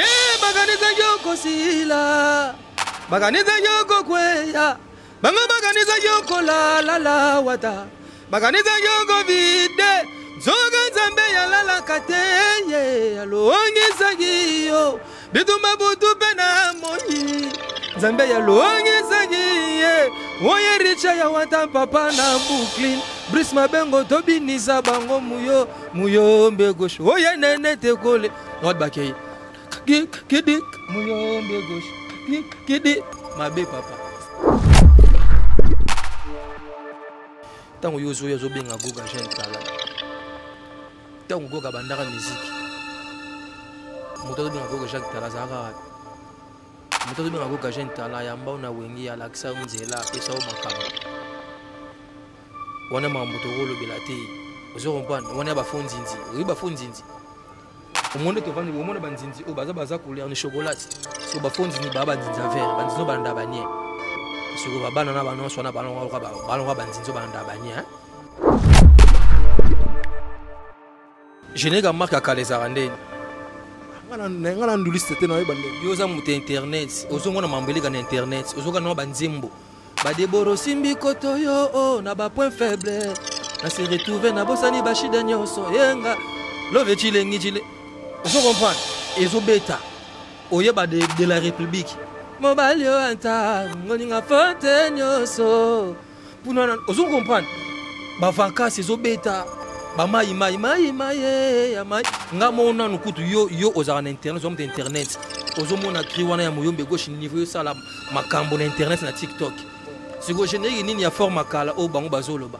Hey, bakanisa yoko sila bakanisa yoko kweya bango bakanisa yoko lalala wata bakanisa yoko vide nzoka nzambe yalalaka te ye alongisaki yo bitumba butu mpe na moi nzambe yalongisaki ye oye richa ya wata papa na brooklyn brise mabengo tobinisa bango muyo muyo mbe gauche oye nene tekole droite bakei kidi muyombe gauche kidi mabe papa ntango yo ozoya ozobenga goga jeune tala ntango goga bandaka miziki moto azobenga goga jacques tala azalaka wapi moto azobenga goga jeune tala yamba na wengi alakisa yo nzela apesa yo makambo wana makambo tokolobela te ozo comprendre wana ba faux nzinzi oyebi ba faux nzinzi omoni tovandi omona banzinzi oyo baza baza couleur ni chocolate so ba faux nzinzi baa banzinzi ya vert banzinzi oyo balanda banie soko babana na banonso wana balonga banzinzi oyo balanda banie Genega marque ya kala ezalaka ndeni nga na nduliste te naoyeba nde yo oza moto ya internet ozongo na mambo eleka na internet ozoka nao banzembo badeboro osimbi koto yo o oh, na bapoint faible na se retrouve nabosani bashida nyonso yenga love cilengi cile ozo comprendre ezobeta oyeba de, de la république mobali oyo ata ngoninga fote nyonso puna na ozo comprendre ba vacances ezo beta ba mai mai mai mai eh, ya mai nga mo nanu kutu yo yo ozaka na internet ozo internet ozo mona cri wana ya moyombe gauche niveau sala makambo na internet na TikTok siko générique nini ya forme kala o bango bazoloba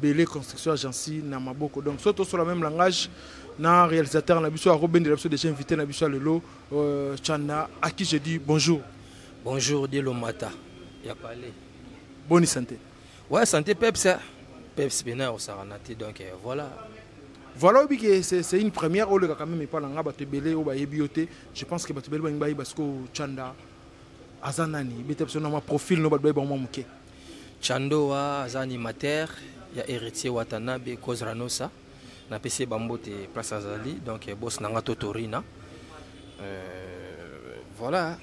bele construction agence na maboko donc soit tosola même langage na réalisateur na biso akobendela biso déjà invité na biso ya lelo euh, chanda à qui je dis bonjour bonjour dielo mata ya palais boni santé ouais santé peps hein. peps pena osarana te donc euh, voilà voilà oyebi ke c'est une première oleka quand même epa na nga bato ebele oyo bayebi yo te je pense que bato ebele balingi bayeba sikoyo chanda aza nani beta biso na ma profil no bato bayebi bango mwa moke Chandoa aza animateur ya Héritier Watanabe Kozranosa napesi ye bambote place azali donc eh, bosi na nga to torina euh, voilà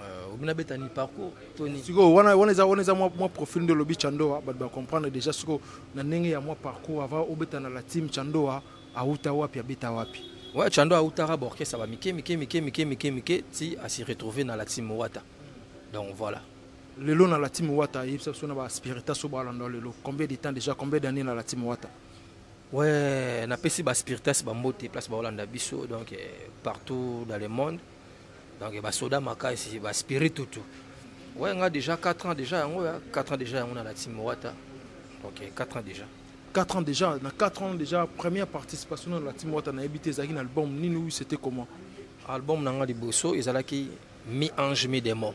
euh, obina betani parcours toni sikoyo wana wana eza wana eza mwa mwa profil nde olobi chandoa bato bacomprendre déjà sikoyo na ndenge ya mwa parcours avant obeta na la team chandoa awuta wapi abeta wapi ouais chando awutaka baorchestre bamike mike mike mike mike mike ti asi retrouve na la team wata donc voilà lelo na lati mowata yebisa biso na baspirita so balanda lelo combien de temps déjà combien d'année na lati mowata ouais napesi baspiritas bambote place baolanda biso donc eh, partout dans le monde donc basoda makasi baspiri tutu ouais nga déjà 4 ans déjà yango 4 ans déjà yango na lati mowata donc 4 eh, ans déjà 4 ans déjà na 4 ans déjà première participation na lati mowata nayebi te ezalaki na album nini oui c'était comment album na nga liboso ezalaki mi ange mi démon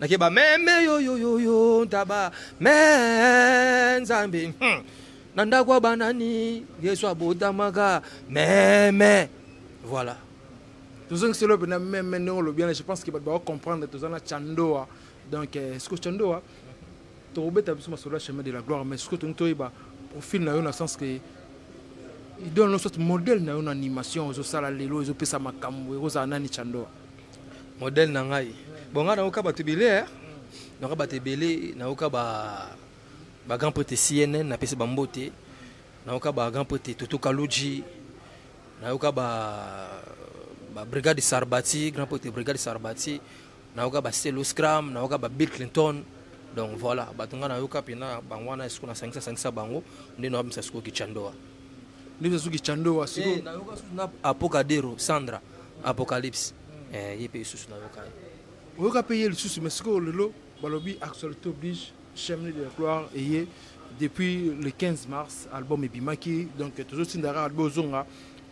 nakeba meme yoyoyoyo ntaba me nzambe hmm. na ndako ya banani yesu abotamaka meme voilà tozongisi lobe na meme ndenge olobi wana je pense ke bato bakocomprendre toza na chandoa donc eh, siko chandoa tokobeta biso masolo ya chemin de la gloire mais siko tolingi toyeba profil na yo na sens ke idole no soit modèle na yo na animation ozosala lelo ezopesa makambo ekozala nani chandoa modèle na ngai bon ngai nayoka bato ebele eh? nayoka bato ebele nayoka ba ba grand prete cnn napesi bambote nayoka ba grand prete toto kaluji nayoka ba ba brigade sarbati grand prete brigade sarbati nayoka ba stelo scram nayoka ba bill clinton donc voilà bato ngai nayoka mpena bango wana esiko nasangisa sangisa bango nde nayoka misa sikoyo kichandoa nde misa suki chandoa siko eh, nayoka susu na apokadero sandra apocalypse eh, ye mpe lisusu nayoka ye oyoka mpe ye lisusu mais sikoyo lelo balobi actualité oblige chemne de la gloire eye depuis le 15 mars album ebimaki donc tozotinda kaka bozonga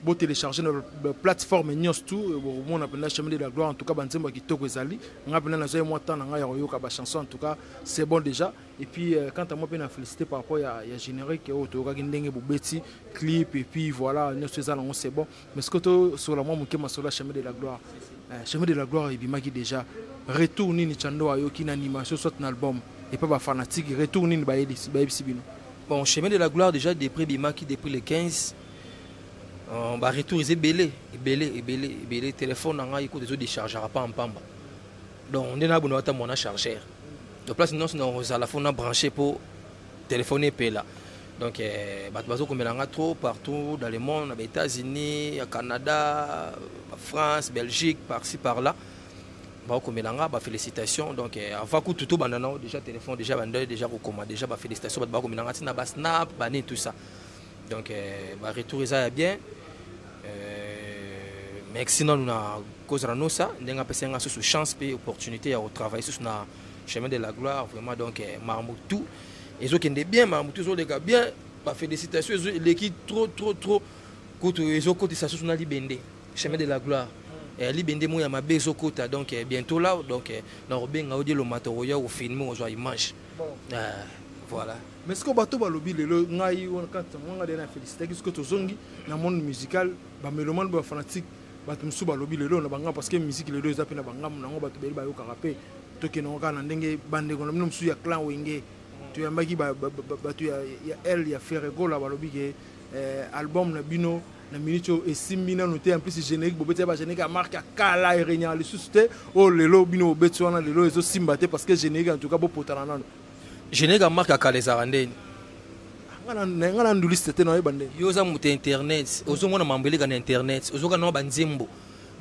botélécharge na plateforme nyonso tu bokomona mpenza chemin de la gloire en tout cas banzembo ya kitoko ezali ngai mpenza nazwai mwa temps na ngai ya koyoka bachanson en tout cas c'est bon déjà et puis euh, quant à moi mpe na félicité par rapport ya, ya générique oyo toyokaki ndenge bobeti clip et puis voilà nyonso eza nango c'est bon mais sikoyo tosola mwa moke masolo ya chemin de la gloire eh, chemin de la gloire ebimaki déjà retour nini chando ayoki na animation soit na album epa bafanatique retour nini bayebisi bino bon chemin de la gloire déjà deprès ebimaki depuis le 15 euh, baretour eza ebele ebele ebele ebele telefone na ngai kutu ezodechargaka pa mpamba donc nde nabonaka ata mwana chargeur donc place nyonso na ozala fo na branche mpo telefone epela donc eh, bato bazokomela nga trop partout dans le monde na baétats-unis ya canada france belgique parci par là baokomela nga bafélicitation donc eh, avant kutu tobanda nao déjà téléphone déjà bandai déjà kokoma déjà bafélicitation bato bakomela nga ntina basnap bani tout ça donc eh, baretour eza ya bien mais sinanu na kozala nosa ndenge apesaki nga susu chance mpe opportunité ya kotravaille susu na chemin de la gloire vraiment donc eh, makambo tout ezokende bien makambo tout ezoleka bien bafélicitation eleki trop trop trop kutu ezokotisa susu na libende chemin de la gloire eh, libende moko ya mabe ezokota donc eh, bientôt là donc nakobenga odi eloma tokoya kofilme kozwa image voilà mais sikoyo bato balobi lelo ngai wana kati yango ngai de na félicitaki soki tozongi na monde musical bamelomane bafanatique bato mosusu balobi lelo na bangambo parce que miziki lelo eza mpe na bangambo nango bato bele bayokaka mpe tokendango kaka na ndenge bandeko na bino mosusu ya clan wenge toyambaki bato ya l ya ferregola balobi ke eh, album na bino na minute oyo esimbi nano te en plus générique bobeti ya bagénérique ya marke ya kala erenyaka lisusu te oyo oh, lelo bino bobeti wana lelo ezosimba te parce que générique en tout cas bopotana nano geneka mark ya kala ezalaka ndeni nga na nduliste te nayeba nde yo oza moto ya internet ozomona mambo eleka na internet ozoka nao banzembo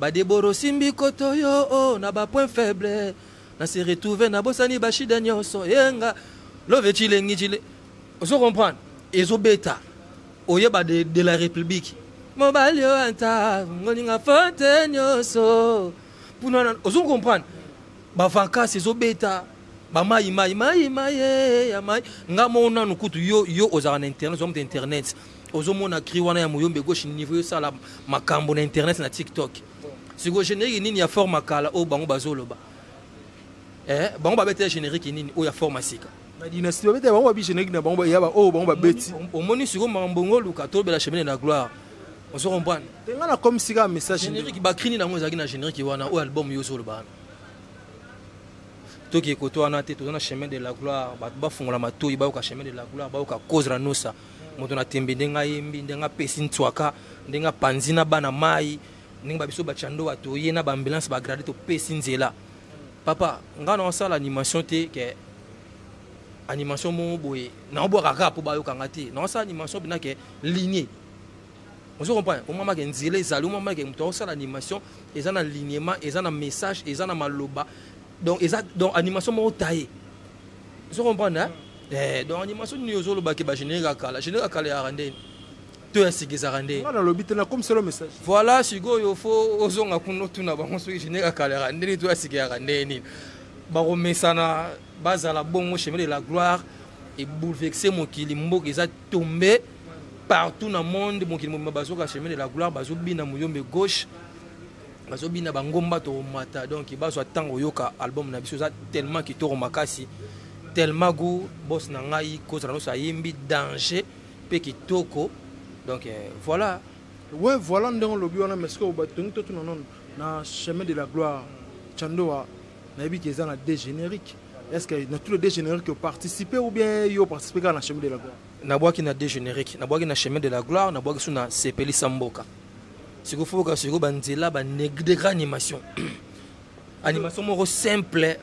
badeboro osimbi koto yo o oh, na bapoint faible na se retrouve nabosani bashida nyonso yenga love cilengi cile ozo comprendre ezobeta oyeba de, de la république mobali yo ata ngolinga fote nyonso mpuna ozo comprendre bavankasi ezobeta ba mai mai mai mai eh, ya mai nga mo nanu kutu yo yo ozalaka na internet ozomta internet ozomona cri wana ya moyombe gauche niveau yosala makambo na internet na tiktok sikoyo générique nini ya forme kala oyo bango bazoloba eh, bango babetela générique nini oyo ya forme sika na dynastie babetela bango babi générique na bango ya oyo bango babeti omoni sikoyo makambo ngo oluka tolobela chemin de la gloire ozo comprendre te nga na comme sika message générique bakrini nango ezalaki na générique wana oyo album yo ozoloba wana toki ekote wana te toza na chemin de la gloire bato bafungola matoi bayoka chemin de la gloire bayoka cause na nosa moto na tembe ndenge ayembi ndenge apesi nswaka ndenge apanzi na bana mai ndenge babiso bacando batoye na baambulance bagrade topesi nzela papa ngai na osala animation te ke animation moko boye naobwaka kaka mpo bayoka ngai te naosala animation mpena ke linie ozo comprendre omama ke nzela ezali omama ke moto akosala animation eza na lignement eza na message eza na maloba donc eza donc animation moko taye ozo comprendre hein? Mm. eh, donc animation nini ozoloba ke bagénérique ya kala générique ya kala yaka ndeni to ya sika ezaka ndeni nalobi te nakomiselo message voilà sikoyo fo ozonga kuna otuna bango soki générique ya kala yaka ndeni to ya sika yaka ndeni nini bakomesana bazala bongo chemin de la gloire eboulevexe mokili mboka eza tombe partout na monde mokili mobimba bazoka chemin de la gloire bazobina moyombe gauche bazobina bangomba tomata donc bazwa ntango oyoka album na biso eza tellement kitoko makasi tellement goût bos na ngai kozala nyonso ayembi danger mpe kitoko donc euh, voilà we voilà ndenge olobi wana mais sikoyo batongi totuna nono na chemin de la gloire chandoa nayebi ke eza na deux générique est ce que na tous les deux générique oparticipe ou bien yo oparticipe kaka na chemin de la gloire nabwaki na deux générique nabwaki na chemin de la gloire nabwaki so na sepelisa mboka sikoyo foka sikoyo banzela banegra animation animation moko simple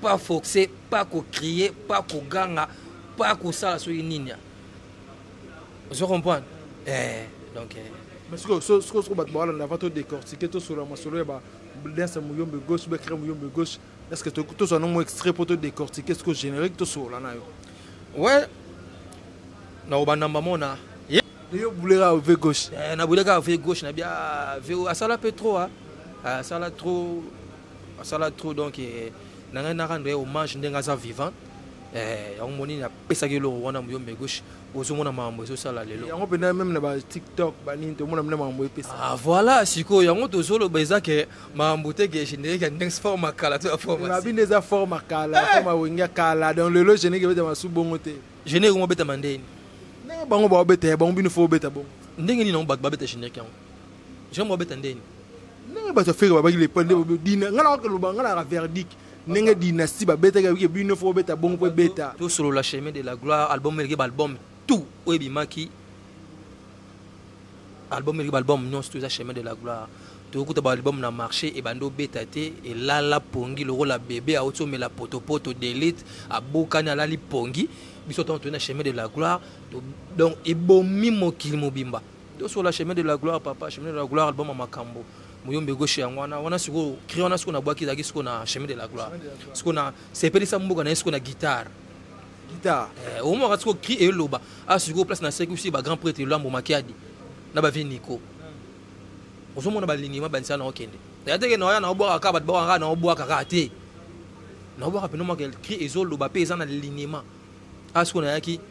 pas forcé pas kocrier pas koganga pas kosala soki nini ozo comprendre eh, donc eh. mais sikoyo sikoyo bato bawalanda avant to décortique tosolola masolo ya Blesse Muyombe gauche, Bekre Muyombe gauche. Est-ce que tu as un mot extrait pour te décortiquer ce que générique tu sur là Ouais. Na obana mamona. Yo boulera au V gauche. Eh, na boulera au V gauche na bien V à sala peu trop hein. À sala trop à sala trop donc eh, na ngai na rendre hommage ndenge aza vivant. Eh, on moni na pesa ke lo wana Muyombe gauche. ozomona makambo ezosala lelo yango mpenza meme na ba tiktok banini tomona mpe na makambo epesa ah, voilà sikoyo yango tozoloba eza ke makambo te ke générique ya next forme kala to ya formabi nde eza forme kala eh! forme wenge ya kala donc lelo générique ebeta masu bongo te générique yango obetama ndeni ndenge bango baobeta ya bango bino fo obeta bongo ndenge nini yango bato babeta générique yango générique babeta ndeni ndenge bato ya fere babaki lepa nde dina ngai nakaka loba ngai naka verdique ndenge dynastie babetaki abike bino fo obeta bongo mpo ebeta tosolola chemin de la gloire album eleki baalbum tout oyo ebimaki album eleki baalbum nyonso to eza chemin de la gloire toyokuta baalbum na marché ebandi obeta te elala pongi lokola bebe auti omela potopoto delite abukani alali pongi biso ntango toyei na chemin de la gloire donc ebomi mokili mobimba sur la chemin de la gloire papa chemin de la gloire album ya makambo moyombe gauche yango wana wana sikoyo cri wana sikoyo nabwaki ezalaki sikoyo na chemin de la gloire sikoyo na sepelisa mboka na ye sikoyo na guitare guitare eh, omwaka sikoyo cri eloba a ah, sikoyo place nasekisi bagrand prêtre elambo makiadi na bavie nico hmm. ozomona balingi mabanisa na okende ya teke na oya na obwaka kaka bato bakaka na obwaka kaka te na obwaka mpena omwaka cri ezoloba mpe eza na linema a ah, sikoyo nayaki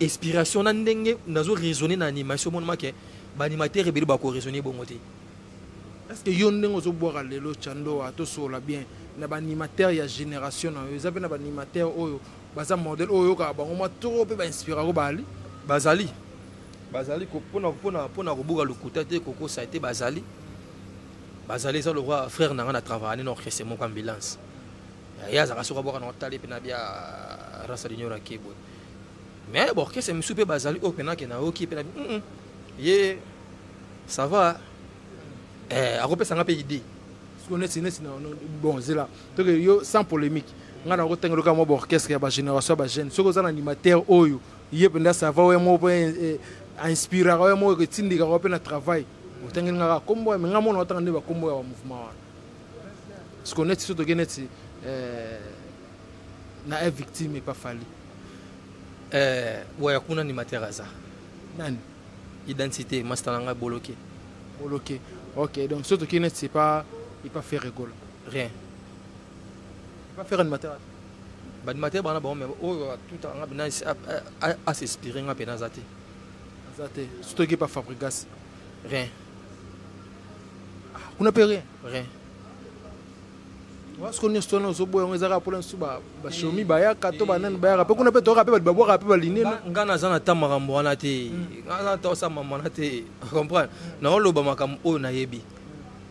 inspiration na ndenge nazo raisonner na animation monoma ke ba animateur ebele ba ko raisonner bongo te est-ce que yo ndenge ozo bwaka lelo chandoa to sola bien na ba animateur ya génération na yo eza pe na ba animateur oyo baza modèle oyo yoka bango mwa trop pe ba inspira ko bali bazali bazali pona pona pona kobuka lokuta te kokosa te bazali bazali eza lokwa frère na nga na travailler na orchestre moko ambulance ye azalaka soki abwaka na otali pe na bia rasa dunior akeboye mais baorchestre mosusu mpe bazali oyo mpena ke nayoki mpe nabi mm -mm. ye ça va eh, akopesa nga mpe idée siko neti neti bon zela toke yo sans polémique ngai nakotanga loka mwa baorchestre ya bagénération ya bajeune soki oza na animateur oyo ye mpenza ça va oyo moko mpe inspiraka oyo moko etindikaka mpe na travail otangeli nga kaka nkombo ya me ngai mona otanga nde bakombo ya bamouvement wana siko neti so toke neti eh, na e victime epa fali eh, waya kuna ni materaza nani identité masta na ngai boloke boloke ok donc so toke neti epa epa fere gola rien epa fere ni materaza banimatere bana bango me oyo atuta nga bina asespire nga mpe naza te aza te sotoki epa fabrigas rien kuna mpe rien rien soko nyonso wana ozoboya yango ezaka mpola nsusu bashomi bayaka to banani bayaka mpe kuna mpe toyoka mpe bato babwaka mpe balineno ngai naza na ta makambo wana te hmm. ngai naza na ta osa mama wana te comprendre naoloba makambo oyo nayebi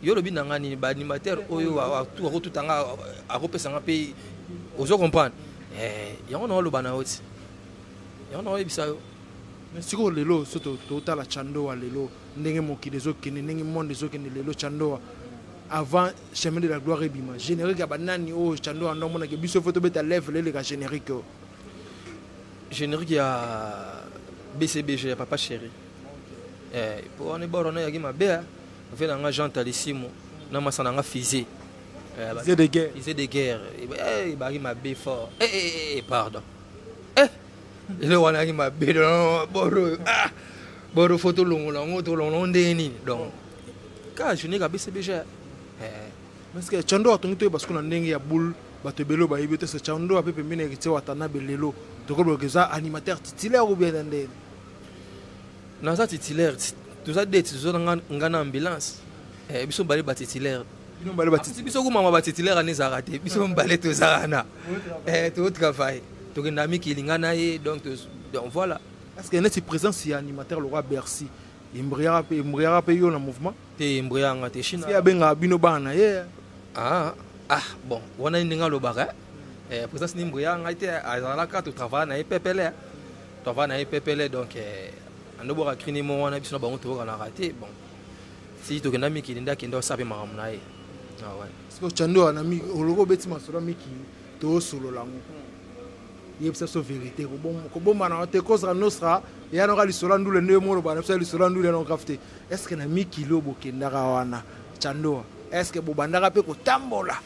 yo olobi na ngai nini baanimateur oyo akotuta ngai akopesa ngai mpe ozo comprendre eh, yango naoloba na yo ti yango naoyebisa yo sikoyo lelo so totala chando wa lelo ndenge mokili ezokende ndenge monde ezokende lelo chandoa avant chemin de la gloire ebima générique ya banani oyo chandoa ndo amonake biso fo tobeta level eleka générique oyo générique ya bcbg ya papa chéri eh, po wana eboro na yaki mabe eh. ve na nga jean talisimo na masa na nga fise eh, fise de guerre ebaki mabe fort pardon eloko wana yaki mabe boro oyo ah boro fo tolongola yango tolongola yango ndenge nini donc kaka journée kabese beja eh. parce que chando atongi toyeba siko na ndenge ya boule bato ebele oyo bayebi te se chando ape pembeni ya kitie watanabe lelo tokoloba eza animateur titulaire ou bien na ndenge naza titulaire toza deti toza na nga na ambulance eh, biso bale batitulaire bino mbale batiti biso kumama batitulaire wana ezalaka te biso mbale toza wana eh, totravaille tokenda mikili ngai na ye donc donc voilà parce que neti présence ya animateur lokola bercy embriaka mpe embriaka mpe yo na mouvement te embriaka nga te chine abengaka bino bana na ye ah, ah bon wana ndenge alobaka eh, eh présence ni embriaka ngai te azalaka totravaille na ye pepele travaille na ye pepele donc eh, andobwaka crinimo wana biso na bango toyokanaka te bon si tokenda mikili nde akenda osala mpe makambo na ye siko cando wana oloko obeti masolo mikili toosolola yango yebisa biso verité kobombana wana te kozala nostra yanoka lisolo ya ndule nde yo moloba na biso ya lisolo ya ndule yanokaf te estce na mikili oyo bokendaka wana candoa estce bobandaka mpe kotambola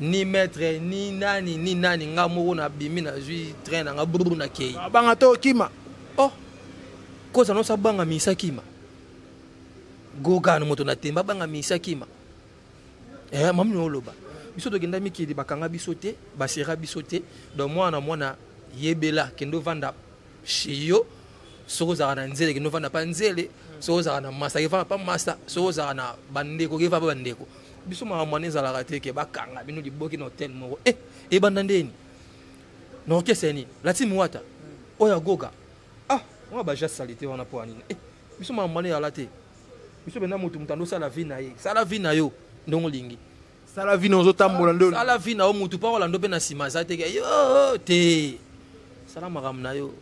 ni maître ni nani ni nani nga moko nabimi nazwi train na nga bruru nakei abanga to okima oh koza noso abanga misa kima gogano moto na temba abanga misa kima eh, mami oloba biso tokenda mikili bakanga biso te basera biso te donc mwana mwana yebela kende ovanda chez yo soki ozalaka na nzele kende ofanda pa nzele soki ozalaka na masa kefanda pa masa soki ozalaka na bandeko kefa pa bandeko biso makambo wana ezalaka te ke bakanga bino liboki na hotel moko e ebanda ndeni na orkestre ya nini latime wata oyo agoga ah wana baja salite wana mpo ya nini e biso makambo wana ezala te biso mpenza moto moto andosala vi na ye sala vi na yo ndenge olingi sala vie na ozotambola nde sala vie na yo mutu mpo akolanda mpe na nsima aza te yo te sala makambo na yo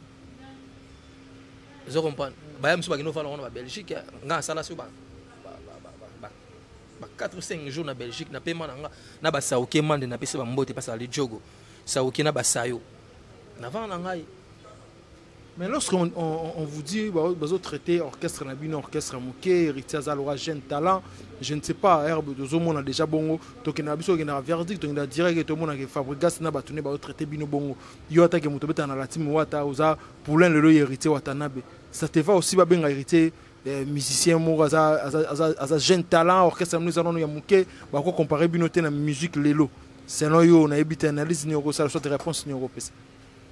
ozo comprendre baya mosusu bakende ofanda wana ba belgique nga asala so ba ba 4 ou 5 jours na belgique na pema na nga na basauke mande napesi bambote pasala lijogo sauke na basayo navanda na ngai Mais lorsqu'on on, on vous dit, bah, bah, vous traitez orchestre Nabino, orchestre Mouké, Héritier Zalora, jeune talent, je ne sais pas, Herbe de Zomo, on a déjà bongo, donc on a besoin d'un verdict, on a direct, tout le monde a Fabrigas, n'a batoné, bah, traité Bino bongo, yo attaque Moutobeta, on a la team Wata, Oza, Poulain, le héritier Watanabe. Ça te va aussi, bah, ben, héritier, eh, musicien moko aza, aza, aza, aza jeune talent orchestre nous allons ya moke bako comparer bino te na musique lelo selon yo nayebi te analyse nini okosala soit réponse nini okopesa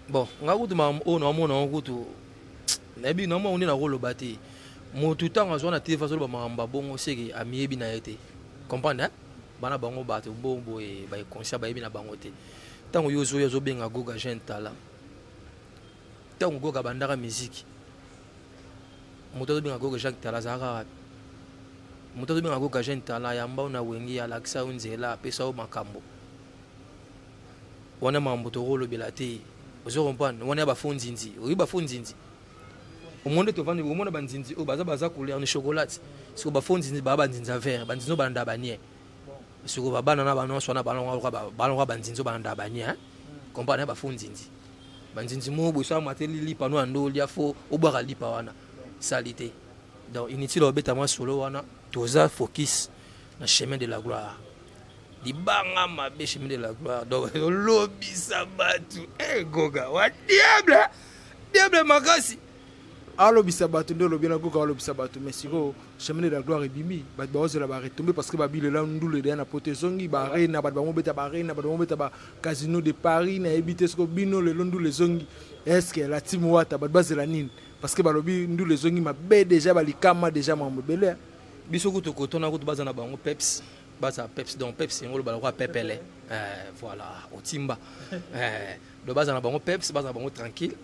bon nga kutu makambo oyo naomona yango kutu nayebi na mwango nde nakoloba te motu ntango azwa na telefone azoloba makambo abongo seke amiyebi na ye te comprendre bana bango bato bongo boye baekonsia bayebi na bango te ntango yo ozoya ozobenga goga jeune tala ntango goga abandaka miziki moto azobenga goga jacques tala azalaka wapi moto azobenga goga jeune tala yamba yo na wenge alakisa yo nzela apesa yo makambo wana mambo tokolobela te ozo comprendre wana ya ba faux nzinzi oyebi ba faux nzinzi omoni nde tovandi omona banzinzi oyo baza baza couleur ni chocolate siko ba faux nzinzi baa banzinzi ya vert banzinzi oyo balanda banie siko babana na banonso wana balonga banzinzi oyo balanda banie comprendre ya ba faux nzinzi banzinzi moko boso amateli lipa no ya ndoli ya faux obwaka lipa wana salite donc inutile obeta mwa solo wana toza focus na chemin de la gloire libanga mabe chemin de la gloire donc olobisa bato egoga eh, wa diable diable makasi alobisa bato nde olobi nakoka alobisa bato mais sikoyo chemin de la gloire ebimi bato baozela baretombe parce que babilela ndulu edeya na poto ezongi barena bato bango beta barena bato bango beta bacasino de paris nayebi te soko bino lelo ndulu ezongi estce la team wata bato bazela nini parce que balobi ndulu ezongi mabe deja balikama deja mambo ebele biso kutu kotona kutu baza na bango peps baza peps donc peps yango olobala kwa pepele eh, voilà otimba eh, do baza na bango peps baza na bango tranquille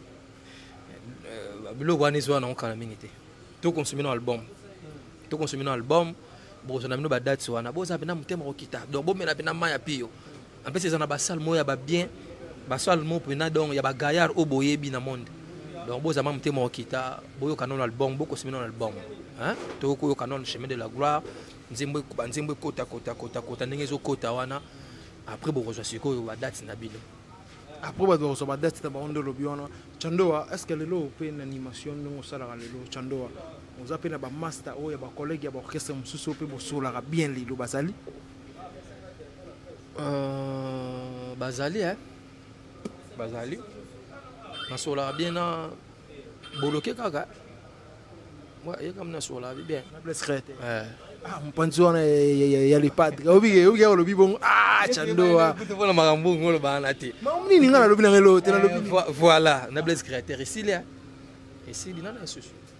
eh, biloko wana ezwa nango kala mingi te tokonsumi na album tokonsumi na album bokozwa na bino badate wana boza mpena motema kokita donc bomela mpena mai ya piyo En plus, ils ont ba salle moya ba bien, ba salle mo pena donc ya ba gaillard au boyebi na monde. Donc boza mam te mo kita, boyo canon album, boko simino album. Hein? To ko yo canon chemin de la gloire, nzembo ba nzembo kota kota kota kota ndenge zo kota wana. Après boko zo siko yo ba date na bino. Après ba zo ba date na ba ondo lobi wana. Chandoa, est-ce que lelo pe na animation ndongo sala lelo Chandoa? Oza pe na ba master oyo ya ba collègues ya ba orchestre mosusu pe bosolaka bien lelo bazali? Euh, bazali eh? bazali nasolaka bien na boloke kaka yekambi nasolaka bien eh. ah, mopanzi wana ya lepadre obike obike olobi bongo ah, chandoa mpona makambo bongo olobaka na te nini ngai nalobi na ngai loo te nalobi eh, voilà na blaise créateur esili esili nana esusu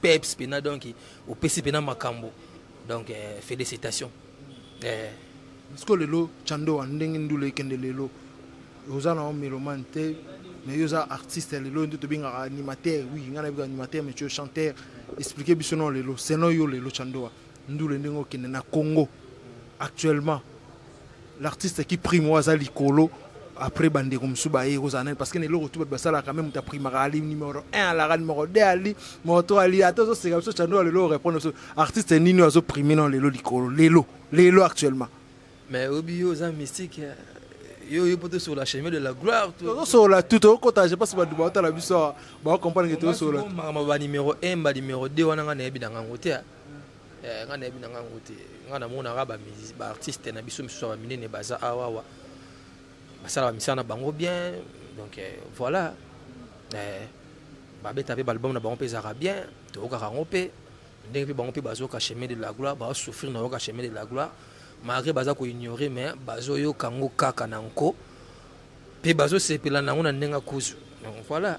peps pena donc opesi pena makambo donc euh, félicitation euh. siko lelo chandoa ndenge ndula ekende lelo oza na melomane te mais yo oza artiste ya lelo nde tobengaka animateur oui ngai nabika animateur mais chanteur explike biso nao lelo selon yo lelo chandoa ndule ndenge okende na congo actuellement l'artiste qui prime oyo aza likolo après bandeko mosusu baye kozala nani parce que na eloko tu bato basalaka me moto aprimaka ali numero 1 alaka numero 2 ali moto ali ata ozoseka biso cando lelo orépondre biso artiste nini oyo azoprime nao lelo likolo lelo lelo actuellement mais obi yo oza mystique hein. yo oyebi mpo tosola chemin de la gloire tozosola tu tokokota je pense bato baotala biso awa baocomprendre ke tozosola makambo ba numero 1 ba numero 2 wana ngai nayebi na ngango te hein. eh, ngai nayebi na ngai yango te ngai namonaka baartiste na biso misusu ya minene baza awawa basalaka misala na bango bien donc eh, voilà eh, babeta mpe baalbum na bango mpe ezalaka bien toyokaka yango mpe ndenge mpe bango mpe bazoyoka chemin de la gloire baosouffrir na yoka chemin de la gloire malgré baza koignore mais bazoyoka yango kaka na nko mpe bazosepela na yango na ndenge akuzu donc voilà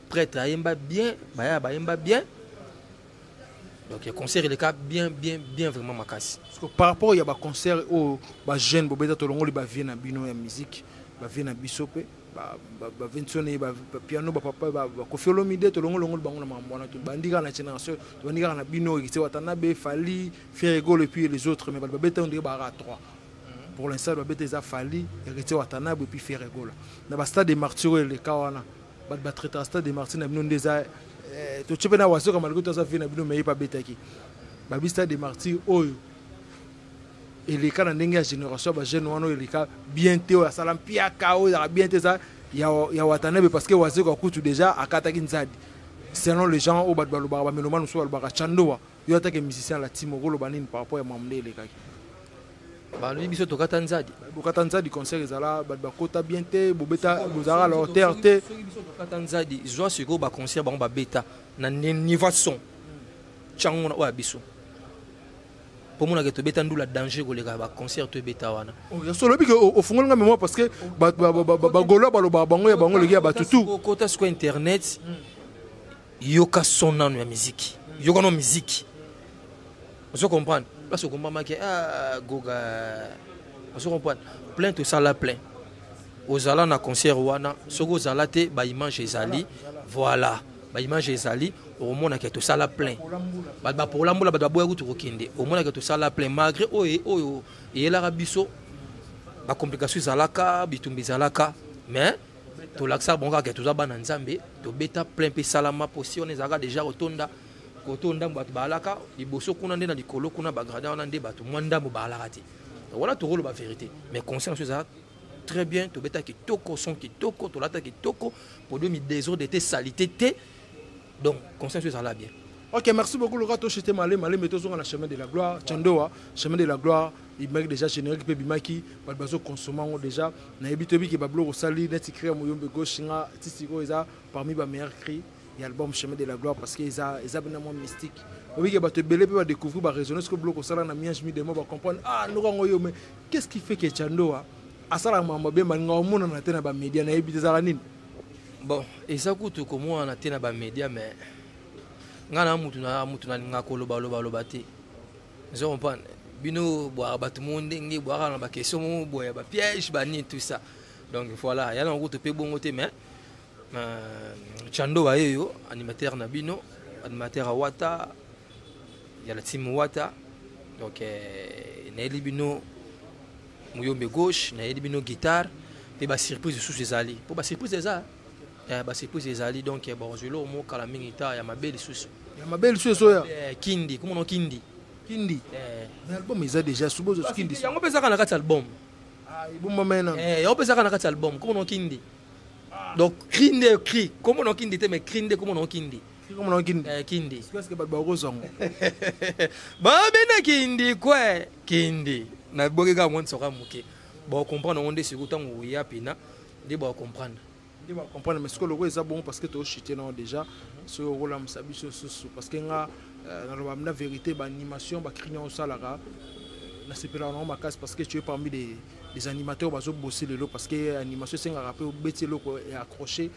prêtre ayemba bien baya bayemba bien donc ya concert eleka bien bien bien vraiment makasi parce que par rapport ya baconcert oyo bajeune bobeta tolongoli bavie na bino ya musique bavie na biso mpe bavinsone bapiano bapapa bakofi olomide tolongolongoli bango na makambo wana tobandi kaka na génération tobandi kaka na bino ekise watanabe fali ferregol epuis les autres mais bato babeta ondeke baaka 3 pour l'instant babeta eza fali ekise watanabe epuis ferregola na bastade de martiro eleka wana bato batraitaka stade de martyr na bino nde eza eh, totye mpe na wasoka malgré toza vie na bino meye mpe abetaki babi stade de martyr oyo eleka na ndenge ya génération ya bajeune wana oyo eleka bien te oyo asala mpiaka oyo ezalaka bien te eza ya watanebe parce que wazoka kutu déjà akataki nzadi selon les gens oyo bato balobaka bamelomane mosusu balobaka chandoa yo atake musicien la timo okoloba nini par rapport ya mamu nde elekaki balobi biso tokata nzadi bokata nzadi concert ezala bato bakota bien te bobeta bozalaka la hauteur te tokata nzadi zwa sikoyo baconcert bango babeta na niveau son tyango wana oyo ya biso mpo monaka tobeta ndula danger koleka baconcert to ebeta wana oh, ya solo bike ofungoli nga memoire parce que bagolois balobaka bango ya bango eleki ya bato tu kota sikoyo internet mm. yoka son nano ya miziki yoka no miziki ozo comprendre place okombamaki ah, goga ozo comprendre plainte osala plein ozala na concert wana soki ozala te baimage ezali voilà baimage ezali okomonaka tosala plein bato bapola mbula bato baboya kutu kokende omonaka tosala plein malgré oyo oyo eyelaka biso bacomplication ezalaka bitumba ezalaka mais tolakisaka bango kaka toza bana nzambe tobeta plein mpe esalama mpo si wana ezalaka deja kotonda koto ndambo bato baalaka liboso kuna nde na likolo kuna bagradin wana nde bato mwa ndambo baalaka te wana tokoloba verité mais conseil na so ezalaka très bien tobeta kitoko son kitoko tolata kitoko podo midesordre te salite te donc conscience ezala bien ok merci beaucoup loka tochete male maleme tozonga na chemin de la gloire chandoa chemin de la gloire ebimaki déjà générique mpe ebimaki bato bazokonsoma yango déjà nayebi toyebi ke babiloko osali neti cri ya moyombe gauche nga ti sikoyo eza parmi bameilleur cri ya album chemin de la gloire parce que eza eza bena mwa mystique oyebi ke bato ebele mpe badécouvrir baraisonne sikoyo biloko osala na miange midemo bacomprendre ah noko yango yo mais qu'est ce qui fait ke chandoa asalaka makambo abe malinga omonana te na bamédia nayebi te ezalaka nini bon eza kutu komonana te na bamédia mais ngai na mutu na mutu nalingaka kolobalobaloba te ozo comprendre bino bwaka bato moko ndenge bwaka na bakestion moko boye ya bapiège banini tout ça donc voilà ya na kutu mpe bongo te mais euh, chando baye yo animateur na bino animateur ya wata ya la team wata donc euh, nayeli bino muyombe gauche nayeli bino guitare mpe basurprise lisusu ezali mpo basurprise eza eh, basurprise ezali donc eh, bakozwa eloko moko kala mingi ta ya mabe lisusu ya mabe lisusu ezoya eh, kindi komono kindi kindi mais album eza déjà subozo kindi yango mpe ezaka na kati album ah, ebombamana yango mpe ezaka na kati album komono kindi ah. donc cri nde cri komono kindi te mais cri nde komono kindi kikomona kindi eh, kindi sikoyo bato bakozwa ngo babenda kindi kwe kindi naboki kaka mwa nsoka moke bakomprendre yango nde sikoyo ntango oya mpena nde bakomprendre nde bakomprendre mais sikoyo loko eza bongo parce que toshite nango déjà soki okolamusa biso lisusu parce que nga euh, naloba na vérité baanimation bakrini yango osalaka euh, nasepelaka nango makasi parce que tu es parmi des des animateurs bazo bosser lelo parce que animation esengaka mpe obeti eloko ya accroche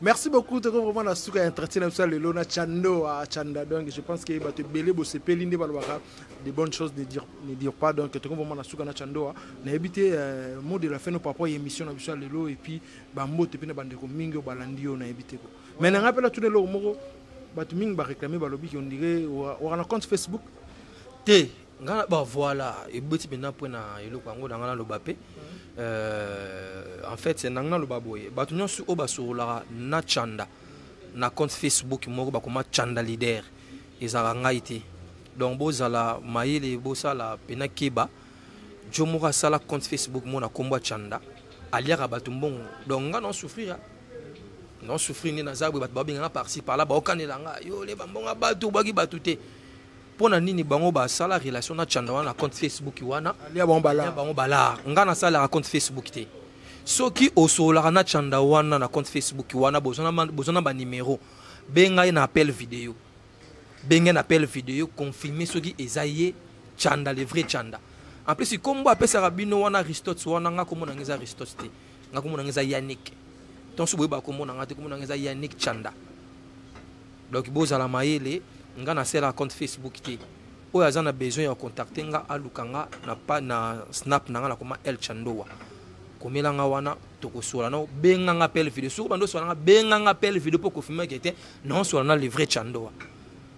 merci beaucoup toko vraiment na suka ya entretien na biso ya lelo na chando a chanda donc je pense que bato ebele bosepeli nde balobaka de bonnes choses ne dire, ne dire pas donc toko vraiment na suka na chando a nayebi te euh, mot de la fin no par rapport ya émission na biso ya lelo et puis bambote mpe na bandeko mingi oyo balandi yo nayebi te ko mais na ngai mpe natuna eloko moko bato mingi bareklame balobi ki ondire wana compte facebook te nga na ba voilà ebeti mpenza mpo na eloko yango na nga naloba mpe euh, en fait na nga naloba boye bato nyonso oyo basololaka na chanda na compte facebook moko bakoma chanda leader ezalaka ngai te donc bozala mayele bosala mpena keba jo moko asala compte facebook moko na nkombo ya chanda aliaka bato mbongo donc nga na souffrir na souffrir nde naza boye bato babenganga parci parla baokanela nga yo leba mbongo ya bato obwaki bato te mpo na nini bango basala relation na chanda wana na compte facebook wana ya bango balar bango balar ngai nasalaka compte facebook te soki osololaka na chanda wana na compte facebook wana boza na banimero benga ye na appel video benga ye na appel video confirme soki eza ye chanda le vrai chanda en plus kombo apesaka bino wana aristote wana ngai komona ngai eza aristote te ngai komona ngai eza yannick tonso boyeba komona ngai te komona ngai eza yannick chanda donc bozala mayele nga na sela compte facebook te oyo aza na besoin ya contacte nga aluka nga na, pa, na snap na nga nakoma el chandowa komela nga wana tokosola nao benga nga pele video soki bando oswala nga benga nga pele video mpo kofilme ke te naoswala na le vrai chandowa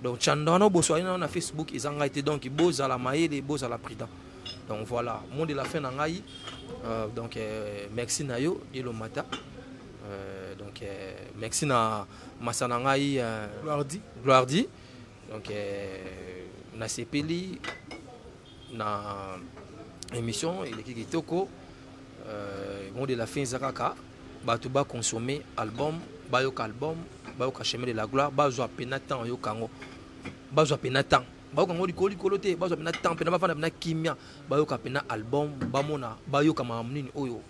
donc chandowa nao boswali nao na facebook eza ngai te donc bozala mayele bozala prudent donc voilà mot de la fin na ngai euh, donc euh, merci na yo elomata euh, donc euh, merci na masa na ngai euh, gloirdi gloirdi donc euh, nasepeli na émission eleki kitoko euh, mot de la fin eza kaka bato baconsomme album bayoka album bayoka chemin de la gloire bazwa mpena temps oyoka yango bazwa mpena temps bayoka yango likolo likolo te bazwa mpena temps mpena bafanda mpena kimia bayoka mpena album bamona bayoka makambo nini oyo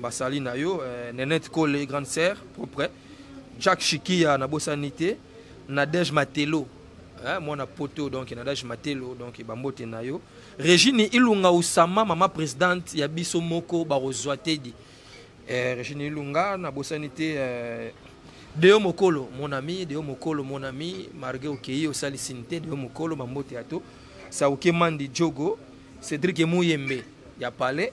basali na yo eh, nenette kole grande sœur propre jack shikia nabosani te nadège matelo eh, mwana poto donc nadège matelo donc bambote na yo regine ilunga usama mama présidente ya biso moko bakozwa tedi eh, regine ilunga nabosani te eh, deo mokolo mon ami deo mokolo mon ami marge okei osalisini te deo mokolo bambote ya to sauke mandi jogo cédrik emuyembe ya palais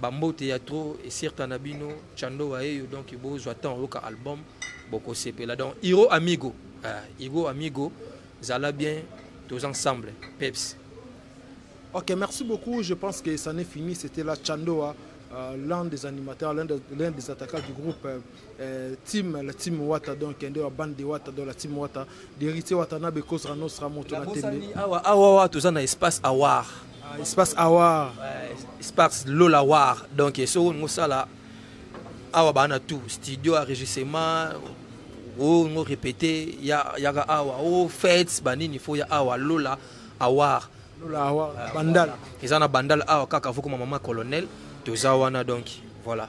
Ba mbote ya trop esirka na bino chando wa eyo donc bo zwa temps oyoka album boko sepela donc Hiro Amigo ah, Hiro Amigo zala bien tous ensemble peps Ok, merci beaucoup. Je pense que ça n'est fini. C'était la Chandoa, euh, l'un des animateurs, l'un des, des, attaquants du groupe. Euh, Euh, team la team wata donc nde wa bande de wata donc la team wata d'héritier wata na be cause nostra moto na tembe awa awa toza na espace awar ah, espace awar ouais, espace lola war donc soko olingi osala awa baa na tout studio enregistrement olingo répété yaka awa o fete banini fo ya awa lola awar lola awar euh, bandal eza na bandal awa kaka fokoma mama colonel toza wana donc voilà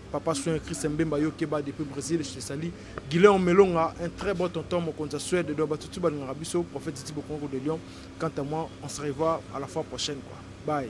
Papa Soin Christ Mbemba yo keba depuis Brésil je te salue. Guilain Melonga un très bon tonton mokonza Suède doit batutu balingaka biso prophète Titi Bokongo de Lyon. Quant à moi on se revoit à la fois prochaine quoi. Bye.